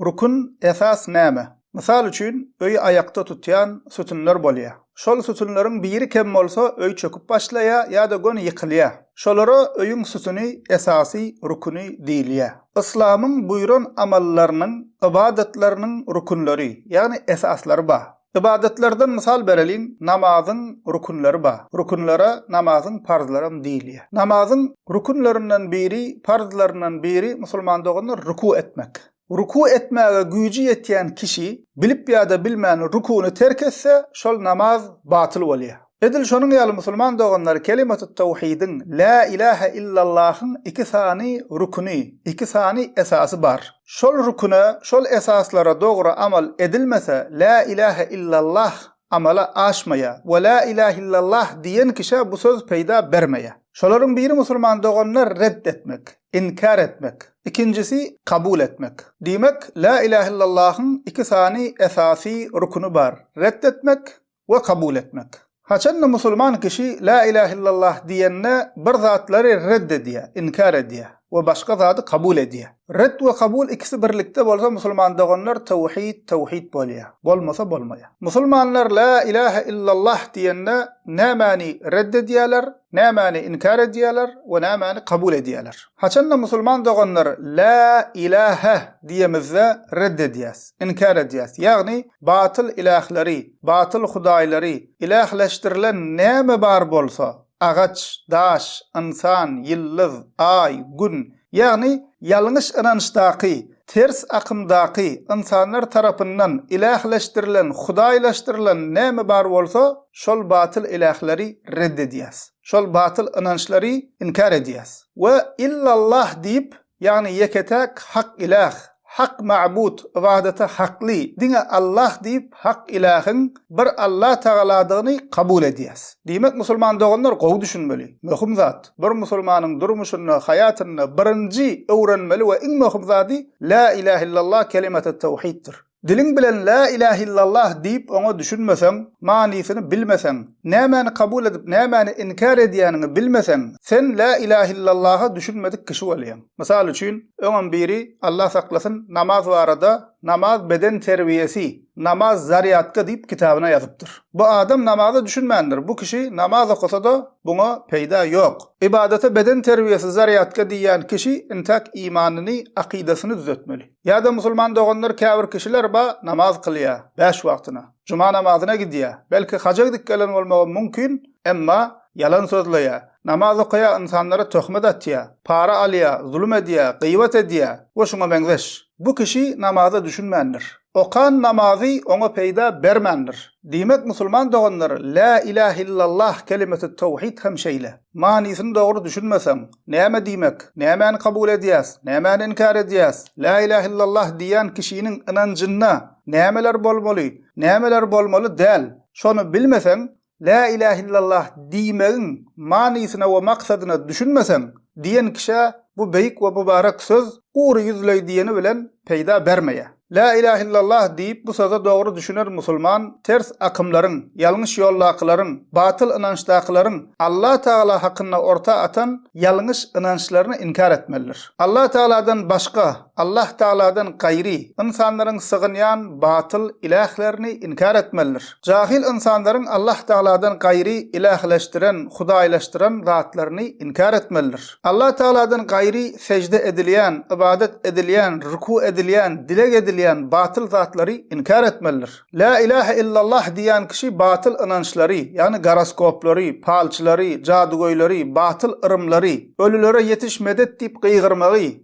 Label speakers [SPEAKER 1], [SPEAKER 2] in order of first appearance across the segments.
[SPEAKER 1] Rukun, esas, näme? Mysal üçin, öýi aýakda tutýan sütünler bolýar. Şol sütünleriň biri kem bolsa, öý çöküp başlaýar ýa-da göni ýykylýar. Şolara öýüň sütüni, esasy, rukuny diýilýär. Yslamyň buýran amallarynyň, ybadatlarynyň rukunlary, ýagny esaslary bar. Ybadatlardan mysal bereliň, namazyň rükünleri bar. Rükünlere namazyň parzlaram diýilýär. Namazyň rükünlerinden biri, parzlaryndan biri, musulman doganlar, rükü etmek. Rükü etmäge güýji ýetýän kişi bilip ýa-da bilmän rüküni terk etse, şol namaz batyl bolýar. Edil şonuň ýaly musulman doganlar kelimatut-tawhidiň, Lä ilähä illallahyň iki sany rüküni, iki sany esasy bar. Şol rüküne, şol esaslara dogry amal edilmese, Lä ilähä illallah amala aşmaýar we Lä ilähä illallah diýen kişä bu söz peýda bermeýär. Şolaryň biri musulman doganyny red etmek, inkär etmek, ikinjisi kabul etmek. Diýmek, Lä ilähä illallahyň iki sany esasy rüküni bar, red etmek we kabul etmek. Haçanda musulman kişi La ilahe illallah diýende bir zatlary red edýär, inkär edýär we başga zady kabul edýär. Red we kabul ikisi birlikde bolsa musulman doganlar tewhid, tewhid bolýar. Bolmasa bolmaýar. Musulmanlar La ilahe illallah diýende nämäni red edýärler, Nämäni inkär edýärler we nämäni kabul edýärler? Haçanda musulman doganlar Lä ilähe diýemizde red edýäs, inkär edýäs, ýagny batyl ilähleri, batyl hudaýlary, ilähleşdirilen näme bar bolsa, agaç, daş, ynsan, ýyldyz, aý, gün, Ýagny, ýalňyş ynançdaky, ters akymdaky ynsanlar tarapyndan ilähleşdirilen, hudaýlaşdyrylan näme bar bolsa, şol batyl ilähleri red edýäs. Şol batyl ynançlary inkär edýäs. We illallah diýip, ýagny ýeke-täk hak iläh, Hak mabud, ybadata hakly, diňe Allah diýip, hak ilähiň bir Allah Tagaladygyny kabul edýäs. Diýmek, musulman doganlar gowy düşünmeli. Möhüm zat, bir musulmanyň durmuşynda, haýatynda birinji öwrenmeli we iň möhüm zady Lä ilähe illallah kelimaty tawhiddir. Diliň bilen Lä ilähe illallah diýip oňa düşünmeseň, manysyny bilmeseň, nämäni kabul edip, nämäni inkär edýäniňi bilmeseň, sen Lä ilähe illallaha düşünmedik kişi bolýaň. Mysal üçin, öňem biri, Allah saklasyn, namaz barada Namaz beden terbiýesi, namaz zarýadka diýip kitabyna ýazypdyr. Bu adam namaza düşünmändir, bu kişi namaz okasa-da buňa peýda ýok. Ybadata beden terbiýesi zarýadka diýýän kişi intäk imanyny, akydasyny düzetmeli. Ýa-da musulman doganlar käbir kişiler ba namaz kylýar, bäş wagtyna, juma namazyna gidýär, belki haja gidip gelen bolmagam mumkin, Emma, ýalan sözleýär, namaz okaýar, ynsanlara töhmet atýar, para alýar, zulum edýär, gybat edýär we şuňa meňzeş. Bu kişi namaza düşünmändir. Okan namazy oňa peýda bermändir. Diýmek, musulman doganlar, Lä ilähe illallah kelimeti towhid hem şeýle. Manysyny dogry düşünmeseň, näme diýmek, nämäni kabul edýäs, nämäni inkär edýäs, Lä ilähe illallah diýýän kişiniň ynanjynda nämeler bolmaly, nämeler bolmaly däl, şony bilmeseň, Lä iläh illallah diýmegiň manysyna we maksadyna düşünmeseň, diýen kişä bu beýik we mübarek söz gury ýüzleý diýeni bilen peýda bermeýär. Lä iläh illallah diýip bu söze dogry düşüner musulman ters akymlaryň, ýalňyş ýoldakylaryň, batyl ynançdakylaryň Allah Tagala hakynda orta atan ýalňyş ynançlaryny inkär etmelidir. Allah Tagaladan başga Allah Tagaladan gaýry ynsanlaryň sygynýan batyl ilählerini inkär etmelidir. Jahyl ynsanlaryň Allah Tagaladan gaýry ilähleşdiren, hudaýlaşdyran, zatlaryny inkär etmelidir. Allah Tagaladan gaýry sežde edilýän, ybadat edilýän, ruku edilýän, dileg edilýän batyl zatlary inkär etmelidir. Lä ilähe illallah diýýän kişi batyl ynançlary, ýagny goroskoplary, palçylary, jadygöýleri, batyl yrymlary, ölülere ýetiş medet diýip gygyrmagy,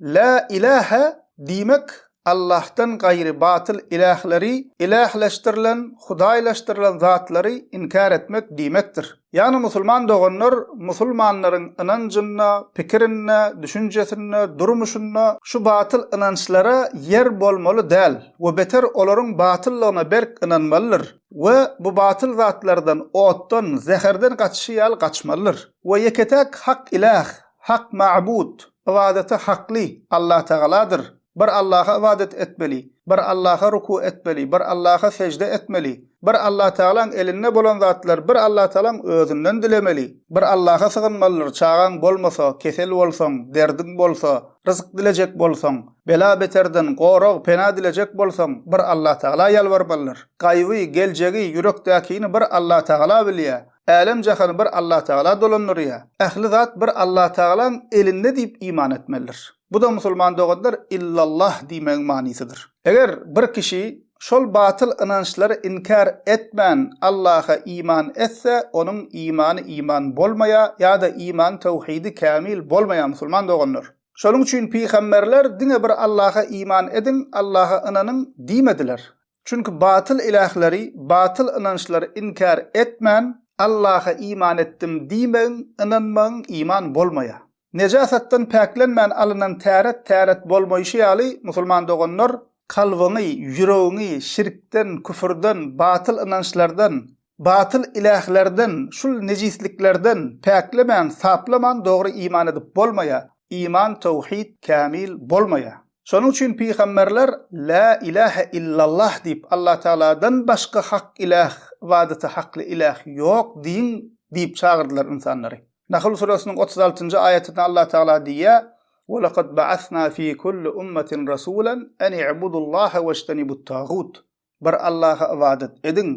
[SPEAKER 1] Lä ilähe diýmek Allahdan gaýry batyl ilähleri, ilähleşdirilen, hudaýlaşdyrylan zatlary inkär etmek diýmekdir. Ýagny musulman doganlar musulmanlaryň ynanjynda, pikirinde, düşünjesinde, durmuşynda şu batyl ynançlara ýer bolmaly däl we beter olaryň batyllygyna berk ynanmalydyr we bu batyl zatlardan otdan, zäherden gaçyşy ýaly gaçmalydyr we ýeke-täk hak iläh, Hak mabud, ybadata hakly, Allatagaladyr. Bir Allaha ybadat etmeli, bir Allaha ruku etmeli, bir Allaha sežde etmeli. Bir Allatagalaň elinde bolan zatlar bir Allatagalaň özünden dilemeli. Bir Allaha sygynmalydyr, çagaň bolmasa, kesel bolsaň, derdiň bolsa, ryzyk dilejek bolsaň, bela-beterden gorag, pena dilejek bolsaň, bir Allatagala ýalbarmalydyr. Gaýby, geljegi, ýürekdäkini bir Allatagala bilýär. Älem-jahany bir Allatagala dolandyrýar. Ähli zat bir Allatagalaň elinde diýip iman etmelidir. Bu-da musulman doganlar Illallah diýmegiň manysydyr. Eger bir kişi şol batyl ynançlary inkär etmän Allaha iman etse, onuň imany iman bolmaýar ýa-da imany töwhidi kämil bolmaýar musulman doganlar. Şonuň üçin pygamberler diňe bir Allaha iman ediň, Allaha ynanyň diýmediler. Çünki batyl ilahleri, batyl ynançlary inkär etmän, Allaha iman etdim diýmegiň, ynanmagyň iman bolmaýar. Nejasatdan päklenmän alynan täret täret bolmaýşy ýaly, musulman doganlar, kalbyňy, ýüregiňi şirkden, küfürden, batyl ynançlardan, Batyl ilählerden, şul nejisliklerden päklemäň, saplaman dogry iman edip bolmaýa, iman, tawhid, kämil bolmaýa. Şonuň üçin pygamberler La ilähe illallah diýip Allatagaladan başga hak iläh, ybadaty hakly iläh ýok diýiň diýip çagyrdylar ynsanlary. Nahl suresiniň otuz altynjy aýatynda Allatagala diýýär, Ve lekad ba'asna fi kulli ummetin rasulen eni'budullaha veştenibut tagut. bir Allaha ybadat ediň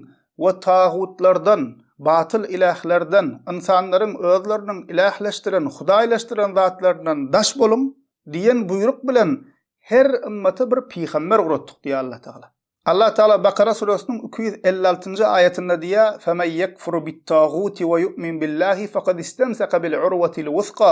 [SPEAKER 1] we tagutlardan, batyl ilählerden, ynsanlaryň özleriniň ilähleşdiren, hudaýlaşdyran zatlaryndan daş boluň diýen buýruk bilen her ymmata bir pygamber ugratdyk diýýär Allatagala. Allatagala Bakara süresiniň iki ýüz elli altynjy aýatynda diýýär, Femen ýekfur bit-taguti we ýu'min billahi fekad istemseke bil-urwetil-wusga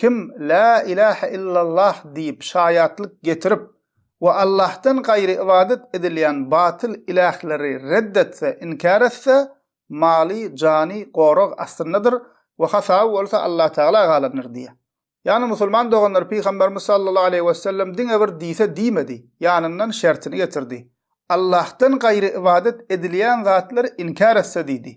[SPEAKER 1] Kim Lä ilahe illallah diýip şaýatlyk getirip we Allahdan gaýry ybadat edilýän batyl ilähleri red etse, inkär etse, maly, jany gorag astyndadyr we hasaby bolsa Allatagala galandyr diýýär. Ýagny musulman doganlar Pygamberimiz sallallahu aleýhi wesellem diňe bir diýse diýmedi, ýanyndan şertini getirdi. Allahdan gaýry ybadat edilýän zatlary inkär etse diýdi.